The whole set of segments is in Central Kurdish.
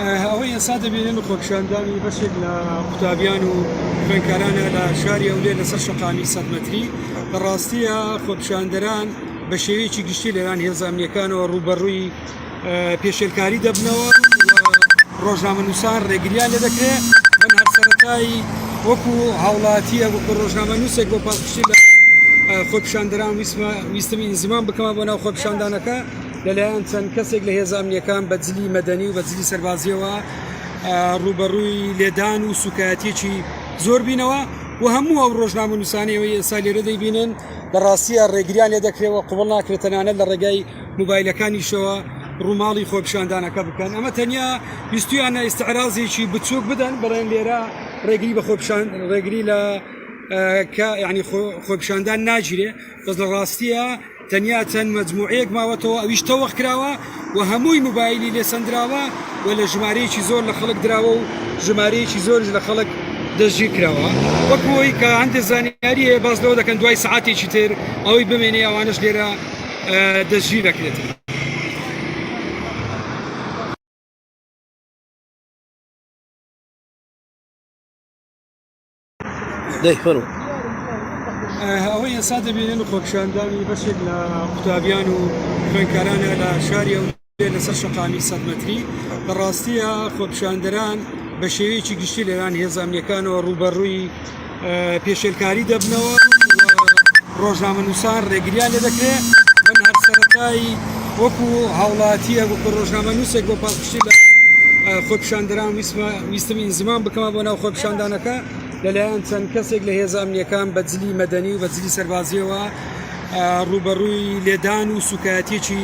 ئەوەی ئێستا دەبینن خۆپشاندانی بەشێک لە قوتابیان و خوێنکارانە لە شاری ئەولێ لەسەر شقامی سەد مەتری بەڕاستیە خۆپشاندەران بە شێوەیەکی گشتی لەوان هێزانامنیەکانەوە ڕوبەڕووی پێشێلکاری دەبنەوە ڕۆژنامەنووسان ڕێگریان لێ دەکرێت من هەر سەرەتایی وەکو هاوڵاتیە وەکو ڕۆژنامە نووسێک بۆ پاڵپشتی لە خۆپشاندران ویسمە ویستمی ئینزیمان بکەمە بۆ ناو خۆپشاندانەکە لەلایەن چەند کەسێک لە هێزانیەکان بە جلی مەدەنی و بە جلی سەربازیەوە ڕوبەڕووی لێدان و سوکایەتێکی زۆر بینەوە و هەموو ئەو ڕۆژنامە نووسانەوەی ئێستا لێرە دەیبینن بەڕاستیە ڕێگریان لێ دەکرێەوە قوڵ ناکرێت تەنانەت لە ڕێگای موبایلەکانیشەوە ڕوماڵی خۆپیشاندانەکە بکەن ئەمە تەنیا ویستویانە ئیسعرازێکی بچووک بدەن بەڵێن لێرە ڕێگری بە خۆپیشان ڕێگری لە کە یعنی خۆپیشاندان ناگیرێ بەس لە ڕاستیە تەنیا چەند مەجموعەیەک ماوەتەوە ئەویش تەوەخ کراوە و هەمووی موبایلی لێ سندراوە و لە ژمارەیەکی زۆر لە خەڵک دراوە و ژمارەیەکی زۆرش لە خەڵک دەستگیر کراوە وەکوەوەی کە هەندێک زانیاریە باز لەوە دەکەن دوای سعاتێکی تر ئەوەی بمێنێ ئەوانش لێرە دەستگیر دەکرێت. ئەوەی ئێستا دەبینن خۆپیشاندانی بەشێک لە قوتابیان و خوێندکارانە لە شاری ئەو لەسەر شەقامی سەد مەتری لە ڕاستیە خۆپیشاندەران بە شێوەیەکی گشتی لەوان هێزامنیەکانەوە ڕوبەڕووی پێشێلکاری دەبنەوە ڕۆژنامە نووسان ڕێگریان لە دەکرێت من هەر سەرەتایی وەکو هاوڵاتیە وەکو ڕۆژنامە نووسێک بۆ پاڵپشتی لە خۆپیشاندەران ویستم ئینزمان بکەمە بۆ ناو خۆپیشاندانەکە لەلایەن چەند کەسێک لە هێزامنیەکان بە جلی مەدەنی و بە جلی سەربازیەوە ڕوبەڕووی لێدان و سوکایەتێکی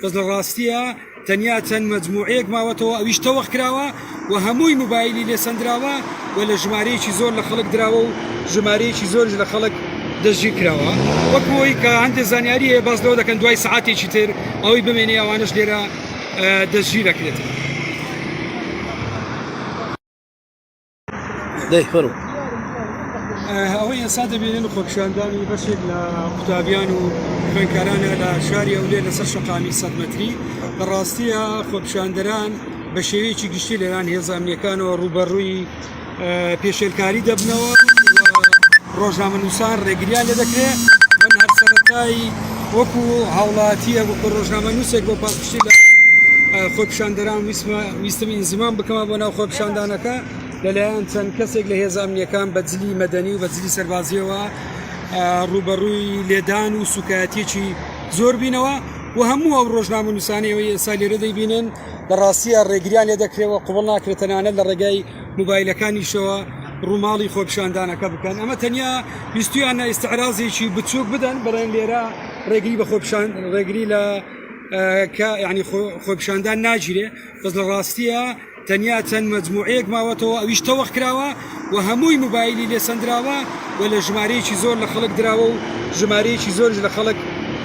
بەس لە ڕاستییا تەنیا چەند مەجموعەیەک ماوەتەوە ئەویش تەوەخ کراوە و هەمووی موبایلی لێ سەندراوە و لە ژمارەیەکی زۆر لە خەڵک دراوە و ژمارەیەکی زۆریش لە خەڵک دەستگیر کراوە وەک بۆی کە هەندێک زانیاری هەیە باس لەوە دەکەن دوای سەعاتێکی تر ئەوەی بمێنێ ئەوانەش لێرە دەستگیر دەکرێتن. دەیخەرو ئەوەی ئێستا دەبێنن خۆپشاندانی بەشێک لە قوتابیان و خوێنکارانە لە شاری ئەولێ لەسەر شقامی سەدمەتری لە ڕاستیە خۆپشاندەران بە شێوەیەکی گشتی لەلان هێزانیەکانەوە ڕوبەڕووی پێشێلکاری دەبنەوە ڕۆژنامە نووسان ڕێگریان لە دەکرێت من هەر سەرەتایی وەکو هاوڵاتیە وەکو ڕۆژنامە نووسێک بۆ پاڵپشتی لە خۆپشاندەران ویسمە ویستم ئینزمام بکەمە بۆ ناو خۆپیشاندانەکە لەلایەن چەند کەسێک لە هێزە ئەمنیەکان بە جلی مەدەنی و بە جلی سەربازیەوە ڕوبەڕووی لێدان و سوکایەتێکی زۆر بینەوە و هەموو ئەو ڕۆژنامە نووسانەوەی ئێستا لێرە دەیبینن لە ڕاستیە ڕێگریان لێ دەکرێەوە قوڵ ناکرێتەنانە لە ڕێگای موبایلەکانیشەوە ڕووماڵی خۆپیشاندانەکە بکەن ئەمە تەنیا بیستویان نایستعرازێکی بچووک بدەن بڵێن لێرە ڕێگری بە خۆپیشان ڕێگری لە کە یعنی خۆپشاندان ناگیرێ بەس لە ڕاستیە تەنیا چەند مەجموعەیەک ماوەتەوە ئەویش تەوەخ کراوە و هەمووی موبایلی لێ سندراوە و لە ژمارەیەکی زۆر لە خەڵک دراوە و ژمارەیەکی زۆرش لە خەڵک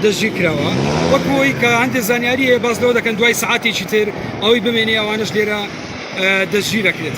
دەستگیر کراوە وەک بۆی کە هەندێک زانیاری هەیە باز لەوە دەکەن دوای سعاتێکی تر ئەوەی بمێنێ ئەوانش لێرە دەستگیر دەکرێت.